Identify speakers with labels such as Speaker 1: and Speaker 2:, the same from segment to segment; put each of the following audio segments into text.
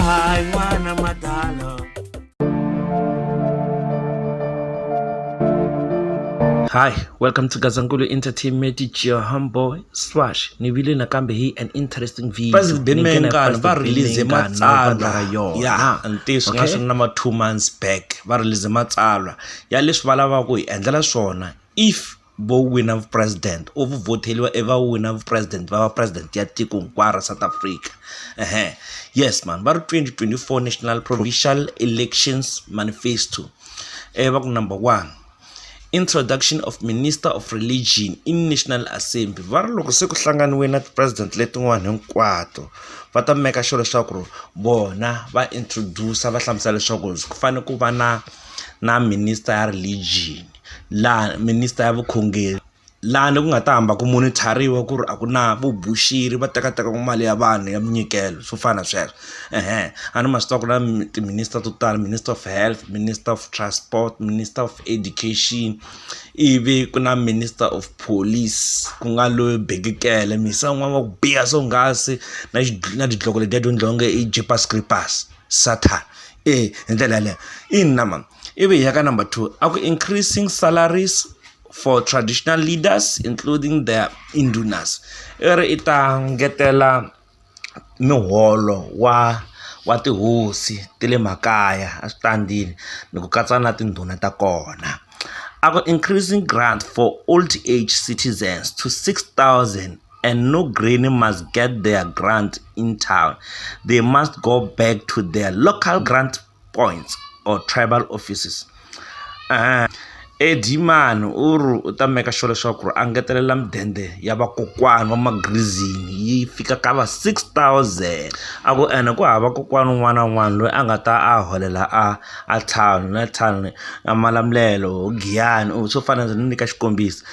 Speaker 1: Hi, Wana Madalo. Hi, welcome to Gazankulu Entertainment. It's your humble Swash. Ni vile nakambe hi an interesting video. Pastor Bimengana
Speaker 2: va release matsalwa ya ntiyiso nga swi na ma two months back va release matsalwa ya leswi va lavaka ku hi endlela swona if vo wina vu president u vhoteliwa i va wina vu president va va president ya tiko hinkwaro ra South Africa yes mhani va ri twenty twenty four national provincial elections manifesto i va ku number one introduction of minister of religion i national assembly va ri loko se ku hlanganiwile na ti-president letin'wana hinkwato va ta make sure leswaku ri vona va introduce-a va hlamusela leswaku ku fanele ku va na na minister ya religion. laha minister ya vukhongeri laha ni ku nga ta hamba ku monitor-iwa ku ri a ku na vuboxeri va teka teka mali ya vanhu ya minyikelo swo fana na sweswo a ni ma swi tiva ku na ti-minister to tala minister of health, minister of transport, minister of education ivi ku na minister of police ku nga loyi bibikele mhisa n'wana wa ku biha swonghasi na na tidloko letiya to endliwa nge i jeepers creepers. Sathane ee hi ndlela yaleyo ina mhani ivi hi ya ka number two a ku increasing salaries for traditional leaders including the indunas i ri i ta ngetela muholo wa wa tihosi ta le makaya a swi ta ndini ni ku katsa na tindhuna ta kona a ku increasing grant for old age citizens to six thousand. and no granny must get their grant in town. They must go back to their local grant points or tribal offices. Uh, edimani u ri u ta meka sure leswaku ku ri a ngetelela midende ya vakokwani wa magrizini yi fika ka va 6000 a ku ene ku hava kokwani un'wana na un'wana loyi a nga ta a holela a a tlhanu na tlhanu a malamulelo giyani u swo fana ndzi ni nyika xikombiso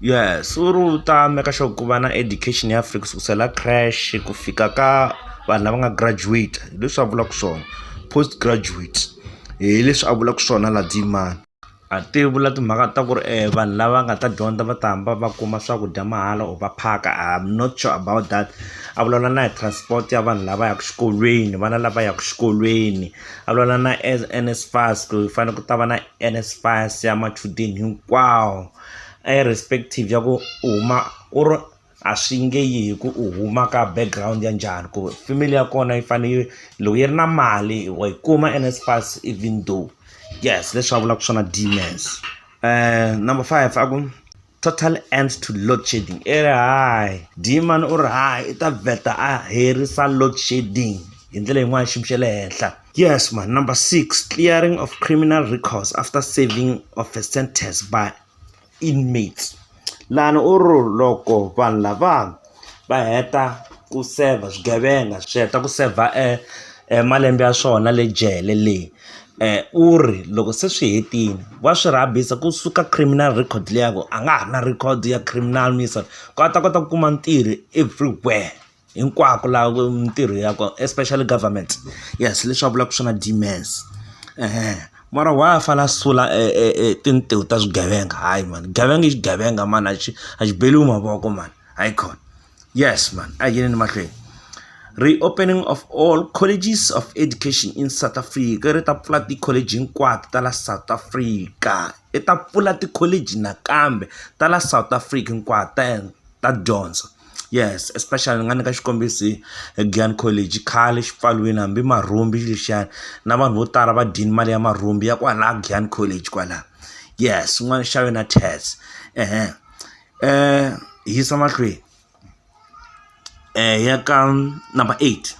Speaker 2: Yes u ri u ta make sure ku va na education ya free kusukusela crash ku fika ka vanhu lava nga graduate hi leswi a vulaka swona post graduate hi leswi a vulaka swona laha tiyimana a ti vula timhaka ta ku ri vanhu lava nga ta dyondza va ta hamba va kuma swakudya mahala or va phaka am not sure about that a vulavula na hi transport ya vanhu lava yaka xikolweni vana lava yaka xikolweni a vulavula na NSFAS ku fanele ku ta va na. NSFAS ya machudeni hinkwawo irrespective ya ku u huma u ri a swi nge yi hi ku u huma ka background ya njhani ku family ya kona yi fane yi loko yi ri na mali wa yi kuma NSFAS even though yes leswi a vulaka swona Deans number five a ku. Total end to load shedding i ri hayi Dieman u ri hayi i ta vheta a herisa load shedding hi ndlela yin'wana xiyimo xa le henhla yes ma number six clearing of criminal records after saving of a sentence by inmates lani u ri loko vanhu lava va heta ku serve swigevenga swi heta ku saver e e malembe ya swona le jele le u ri loko se swi hetile wa swi rhabisa kusuka criminal record liya ya ku a nga ha ri na record ya criminal ni so ku a ta kota ku kuma ntirho everywhere hinkwako laha ku mintirho ya kona especially government yes leswi a vulaka swona Demas . mara why a fanele a sula e e e tintiho ta swigevenga hayi mani gevenga i xigevenga mani a xi a xi beriwi mavoko mani hayi khona yes mani a hi yeleni mahlweni reopening of all colleges of education in south africa ri ta pfula ti-college hinkwato ta la south africa i ta pfula ti-college nakambe ta la south africa hinkwato ta ta dyondzo. yes especially ni nga nyika xikombiso hi Giyani college khale xi pfaliwini hambi marhumbi lexiyani na vanhu vo tala va dyini mali ya marhumbi ya kwala Giyani college kwala yes xin'wana xa wena tax ehe hi yisa mahlweni ya ka number eight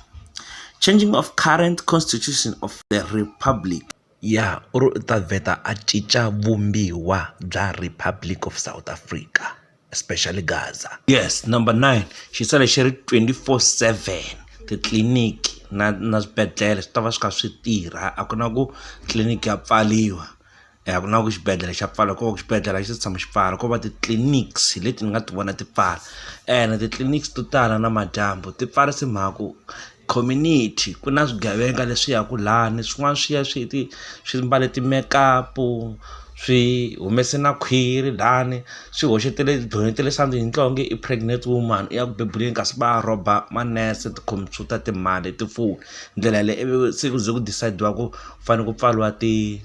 Speaker 2: changing of current constitution of the republic. Ya u ri u ta vheta a cinca vumbiwa bya Republic of South Africa especially Gaza. Yes number nine xi sale xi ri twenty four seven titliliniki na na swibedhlele swi ta va swi kha swi tirha a ku na ku tliliniki ya pfariwa a ku na ku xibedhlele xa pfala ko xibedhlele a xi se tshama xi pfala ko va ti-clinics hi leti ni nga ti vona ti pfala ene titliliniki to tala namadyambu ti pfarisa hi mhaka ku. community ku na swigevenga leswi yaka lani swin'wana swi ya swi ti swi mbale ti-makeup swi humese na khwiri lani swi hoxetele donetele something hi twa onge i pregnant woman i ya ku bebuleni kasi va rhoba manese tikhompyuta timali tifoni ndlela yaleyo ivi se ku ze ku decide-iwa ku fanele ku pfariwa ti.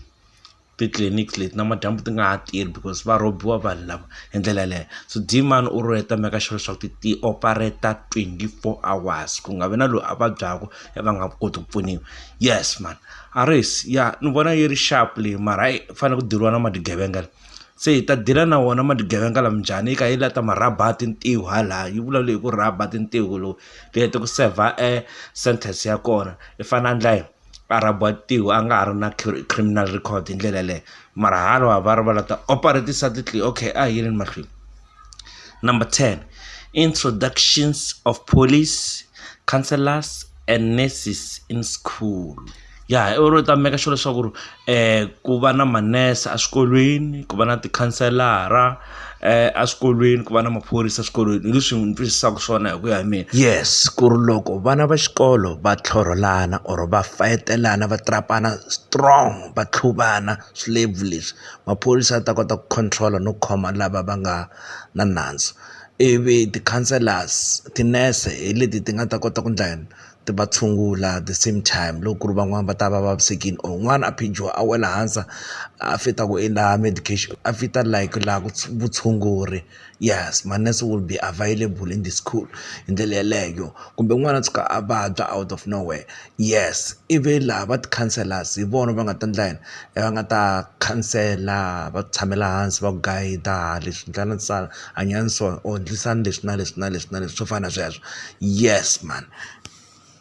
Speaker 2: titliliniki leti namadyambu ti nga ha tirhi because va rhobiwa vanhu lava hi ndlela yaleyo so demand u ri u heta make sure leswaku ti ti operator twenty four hours ku nga vi na loyi a vabyaka i va nga koti ku pfuniwa yes mhana a race ya ni vona yi ri xapu leyi mara hayi ku fanele ku deliwa na mali tigevenga leyi se hi ta deal-a na wona mali tigevenga lama njhani yi kha yi la ta ma rhaba a tintiho hala yi vulavula hi ku rhaba tintiho lowu ti heta ku saver e sentence ya kona i fanele a endla yini. a rabatiwa a nga ha ri na criminal record hi ndlela yaleyo mara halwa va ri va la ta operatisa titliliniki okay a hi yeleni mahlweni number ten introductions of police counsellors and nurses in school ya hi oro u ta meka sure leswaku ri ku va na manese eswikolweni ku va na tikhanselara eswikolweni ku va na maphorisa eswikolweni hi leswi ni twisisaka swona hi ku ya hi mina yes ku ri loko vana va xikolo va tlhorholana or va fayitelana va strong va tlhuvana swilavhu leswi maphorisa ya ta kota ku control-a no khoma lava va nga na nandzu ivi ti-councilors tinese hi leti ti nga ta kota ku endla yini. ti va tshungula the same time loko ku ri van'wani va ta va vavisekile or un'wana a phijiwa a wela hansi a fita ku i laha medication a fita like laha ku vutshunguri yes manese will be available in the school hi ndlela yeleyo kumbe n'wana a tshuka a vabya out of no where yes ivi laha va ti-counsellors hi vona va nga ta endla yini va nga ta khansela va ku tshamela hansi va ku guide-a leswi . hanyani so or ndlisani leswi na leswi na leswi na leswi swo fana na sweswo yes man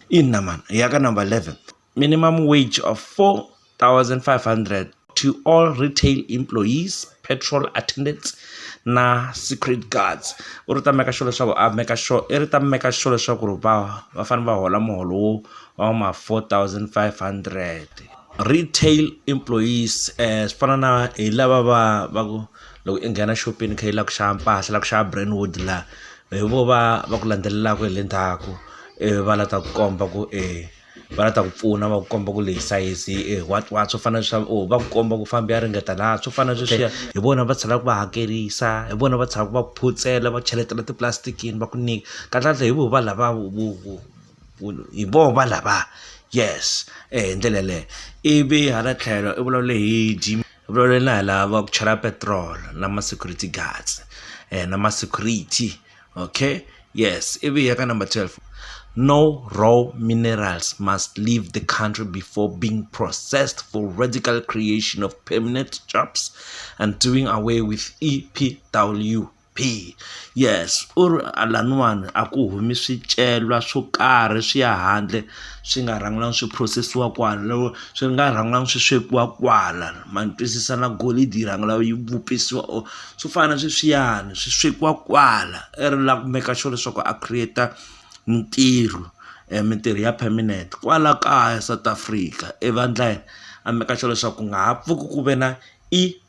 Speaker 2: ina mani hi ya ka number eleven minimum wage of four thousand five hundred to all retail employees petrol attendants na secret guards u ri ta meka sure leswaku a meka sure i ri ta meka sure leswaku ri va va fanele va hola muholo wo wa ma four thousand five hundred retail employees um swi fana na hi lava va va ku. loko i nghena xopeni i kha i lava ku xava mpahla la ku xava brentwood la hi vo va va ku landzelelaka hi le ndzhaku ivi va lava ku ta ku komba ku e va lava ku ta ku pfuna va ku komba ku leyi sayizi hi e what what swo fana na swa or va ku komba ku famba ya ringeta la swo fana na sweswiya hi vona va tlhelaka va hakerisa hi vona va tlhelaka va ku phutsela va cheletela tipulasitikiwini va ku nyika kahlekahle hi vona va lava vu vu vu vu hi vona va lava yes hi ndlela yaleyo ivi hala tlhelo i vulavule hi gym. na hi lava ku chela petrol na ma security guards na ma security okay yes ivi hi ya ka number twelve no raw minerals must leave the country before being processed for radical creation of permanent jobs and doing away with E_P_W. bihi yes u ri a laniwani a ku humi swicelwa swo karhi swi ya handle swi nga rhangiwanga swi phurosesiwa kwala swi nga rhangiwanga swi swekiwa kwala ma ni twisisa na golidi yi rhanga yi vupisiwa or swo fana na sweswiyani swi swekiwa kwala i ri lava ku make sure leswaku a create mitirho mitirho ya permanent kwala kaya South Africa evandleni a make sure leswaku ku nga ha pfuki ku ve na i.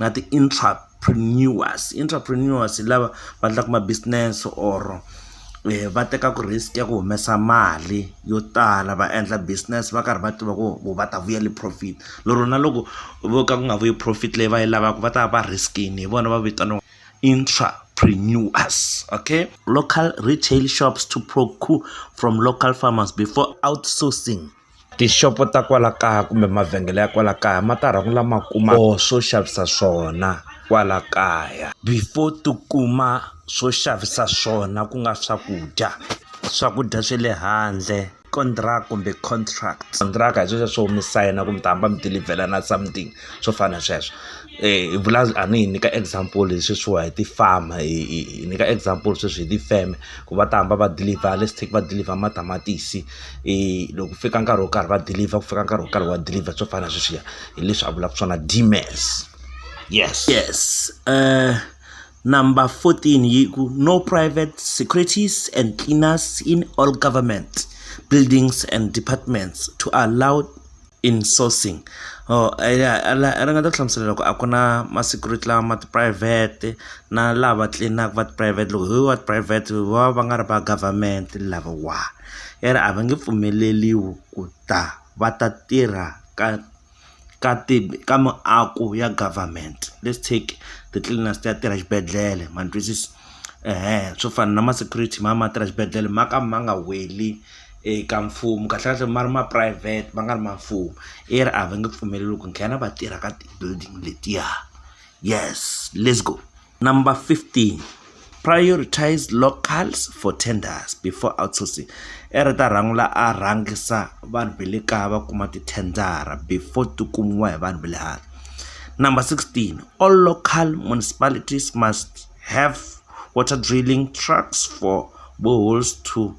Speaker 2: na ti-intrapreneurs, intrapreneurs hi lava va endlaka ma business or va tekaka risk ya ku humesa mali yo tala va endla business va karhi va tiva ku vo va ta vuyela profit lero na loko vo ka ku nga vuyi profit leyi va yi lavaka va ta va va risk-ini hi vona va vitaniwaka intrapreneurs okay. Local retail shops to procure from local farmers before outsourcing. tixopo ta kwala kaya kumbe mavhengele ya kwala kaya ma ta rhanga lama kuma or swo xavisa swona kwala kaya before ti kuma swo xavisa swona ku nga swakudya swakudya swe le handle
Speaker 1: kumbe contract kontraka hi sweswo swo mi sayina ku mi ta hamba mi dilivhelana something swo fana na sweswo hi vula a ni hi nyika example hi sweswiwa hi ti-farmer hi hi hi nyika example sweswi hi tifeme ku va ta hamba va dilivha let's take va dilivha matamatisi. loko ku fika nkarhi wo karhi va dilivha ku fika nkarhi wo karhi wa dilivha swo fana na sweswiya hi leswi a vulaka swona Demas yes yes number fourteen yi ku no private securities and cleaners in all government buildings and departments to allow. in sourcing or a ya la a ringeta ku hlamusela loko a ku na ma security lawa ma tiphurayivhete na lava tlilinaku va tiphurayivhete loko hi va tiphurayivhete va va nga ri va government lavawa i ri a va nge pfumeleriwi ku ta va ta tirha ka ka ti ka miako ya government let's take the cleaners ti ya tirha xibedhlele ma ni twisisa. swo fana na ma security ma va ma tirha xibedhlele ma ka ma nga weli eka mfumo kahlekahle ma ri ma private ma nga ri ma mfumo i ri a va nge pfumeleli ku nghena va tirha ka ti-building letiya yes let's go number fifteen prioritise locals for tenders before outsourcing i ri ta rhangela a rhangisa vanhu va le kaya va kuma tithendara before ti kumiwa hi vanhu va le handle. Number 16, all local municipalities must have water drilling trucks for boreholes to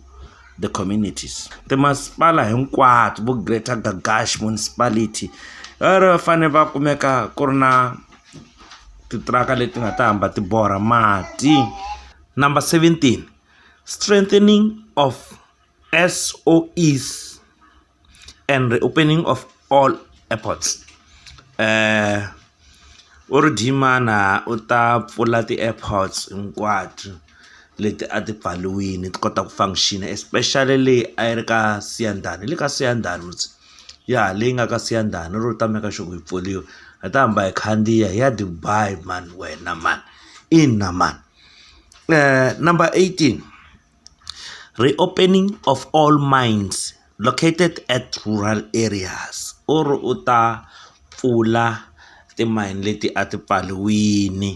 Speaker 1: the communities timasipala hinkwato vo greater gagash municipality ri va fanele va kumeka ku ri na titiraka leti nga ta hamba ti borha mati number 17 strengthening of SOEs and reopening of all airports u ri Dhimana u ta pfula ti-airports hinkwato leti a ti pfariwile ti kota ku function especially leyi a yi ri ka Siyandhani le ka Siyandhani mos ya leyi nga ka Siyandhani u ta make sure ku yi pfuriwa hi ta hamba hi khandziya hi ya Dubai mhani wena mhani ina mhani number eighteen. Reopening of all mines located at rural areas u ri u ta pfula timayini leti a ti pfariwile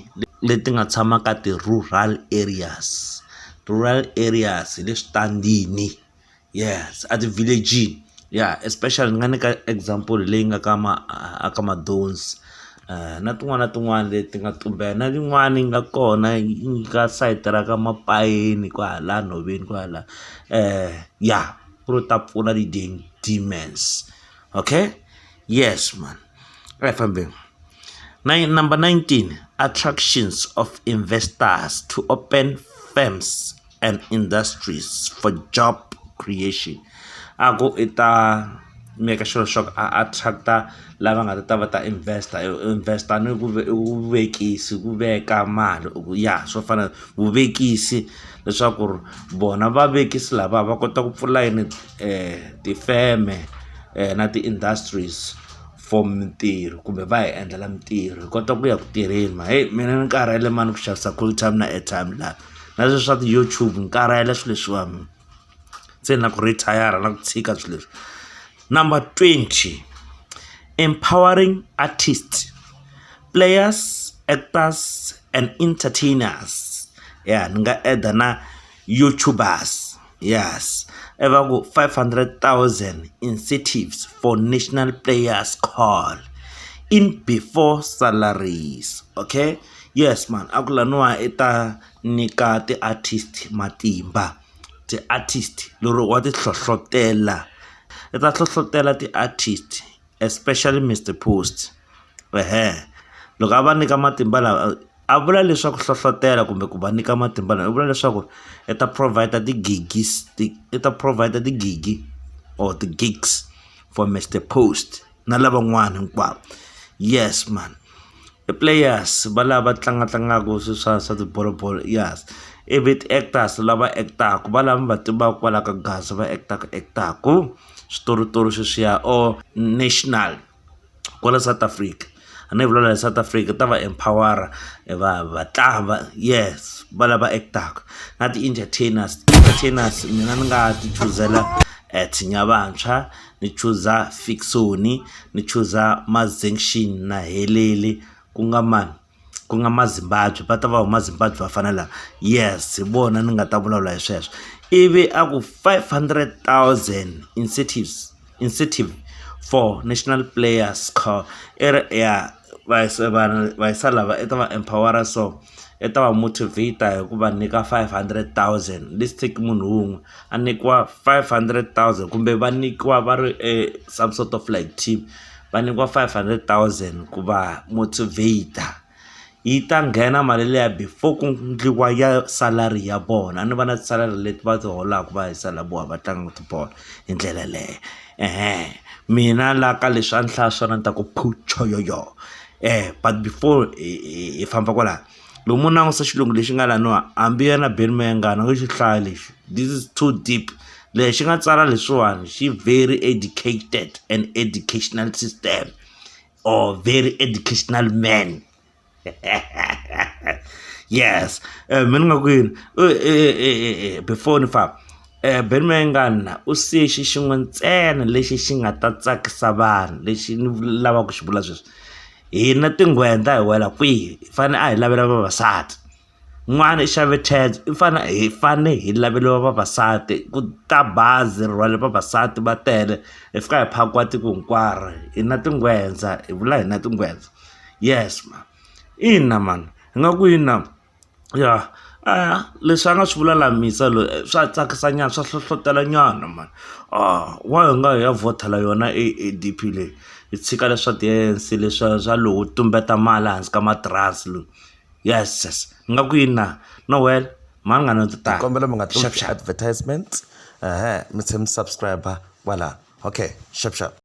Speaker 1: leti nga tshama ka ti-rural areas, rural areas hi le switandini yes a ti-village-ini ya especially ni nga nyika example leyi nga ka ma a ka Madonsi. na tin'wana na tin'wana leti nga tumbela na yin'wana yi nga kona yi nyika sayiti ra ka mapayeni kwahala nhoveni kwahala ya ku ri ta pfuna ti-demons okay yes mhani a hi fambeni number nineteen attractions of investors to open firms. and industries for job creation a ku i ta make sure swa ku a attract-a lava nga ta ta va ta invest-a invest-a ni ku i vuvekisi ku veka mali u ku ya swo fana vuvekisi leswaku ri vona vavekisi lava va kota ku pfula yini tifeme na ti-industries for mintirho kumbe va hi endlela mintirho hi kota ku ya ku tirheni mhani heyi mina ni karhele mhani ku xavisa cold time na airtime la. na leswi swa ti-YouTube ni karhele swilo leswiwani se na ku retire na ku tshika swilo leswi number twenty empowering artist players actors and entertainers ya ni nga add-a na YouTubers. Yes, i va ku five hundred thousand incentives for national players call in before salaries okay yes mhani a ku laniwa i ta nyika ti-artist matimba ti-artist lero wa ti hlohlotelo i ta hlohlotelo ti-artist especially Mister Post ehe loko a va nyika matimba lawa a vula leswaku hlohlotelo kumbe ku va nyika matimba lama u vula leswaku i ta provide ti-gigi i ta provide ti-gigi or ti-gigs for Mister Post na lavan'wana hinkwavo yes mhani i players va lava tlanga tlangaka swilo swa swa tibolo bolo yes ivi ti-actors lava act-aka va lava mi va tivaka kwala ka Gaza va act-aka act-aka. switoritori sweswiya or national kwala South Africa a ni vula la South Africa ta va empower va va tlanga yes va lava act-aka na ti-entertainers entertainers mina ni nga ti chuzela Tshinya Vantshwa ni chuza Fiksoni ni chuza Mazinxini na Helele ku nga mani. ku nga Mazimbabwe va ta va huma Zimbabwe va fana lava yes hi vona ni nga ta vulavula hi sweswo ivi a ku five hundred thousand incentives incentive for national players car i ri ya va vanhu va yisa lava i ta va empower so i ta va motivate hi ku va nyika five hundred thousand lets take munhu wun'we a nyikiwa five hundred thousand kumbe va nyikiwa va ri e some sort of like team. va nyikiwa five hundred thousand ku va motivater yi ta nghena mali liya before ku endliwa ya salary ya vona a ni va na ti-salary leti va ti holaka va hi boha va tlanga tibolo hi ndlela yeleyo mina la ka leswi a ni hlaya swona ni ta ku phu choyoo but before hi famba kwala. loko mo langusa xilungu lexi nga laniwa hambi yena Ben Mayengani a nge xi hlaya lexi this is too deep lexi nga tsala leswiwani xi very educated and educational system or very educational man yes eh, mina nga ku yini eh, eh, before ni famba Eh, ben mayengana u siye xi xin'we ntsena lexi xi nga ta tsakisa vanhu lexi ni lavaka ku xi vula sweswi hina tingwendla hi wela kwihi hi fane a hi lavela vavasati n'wana i xave Tazz i fane hi fane hi laveliwa vavasati ku ta bazi ri rhwale vavasati va tele hi fika hi phakiwa tiko hinkwaro hina tingwendza hi vula hina tingwendza yes mhani ina mhani hi nga ku yini na. Ya leswi a nga swi vula la mhisa loyi swa tsakisa nyana swa hlohlotelo nyana mhani why hi nga hi ya vhotela yona e A_D_P leyi hi tshika leswi swa ti-A_N_C leswa swa lowo tumbeta mali ehansi ka matirasi lowu yeses ingaku yini na no well mhani ngani a ndzi ta kombela mi nga
Speaker 2: advertisement ehe mi tlhe mi subscribe kwala okay xap xap.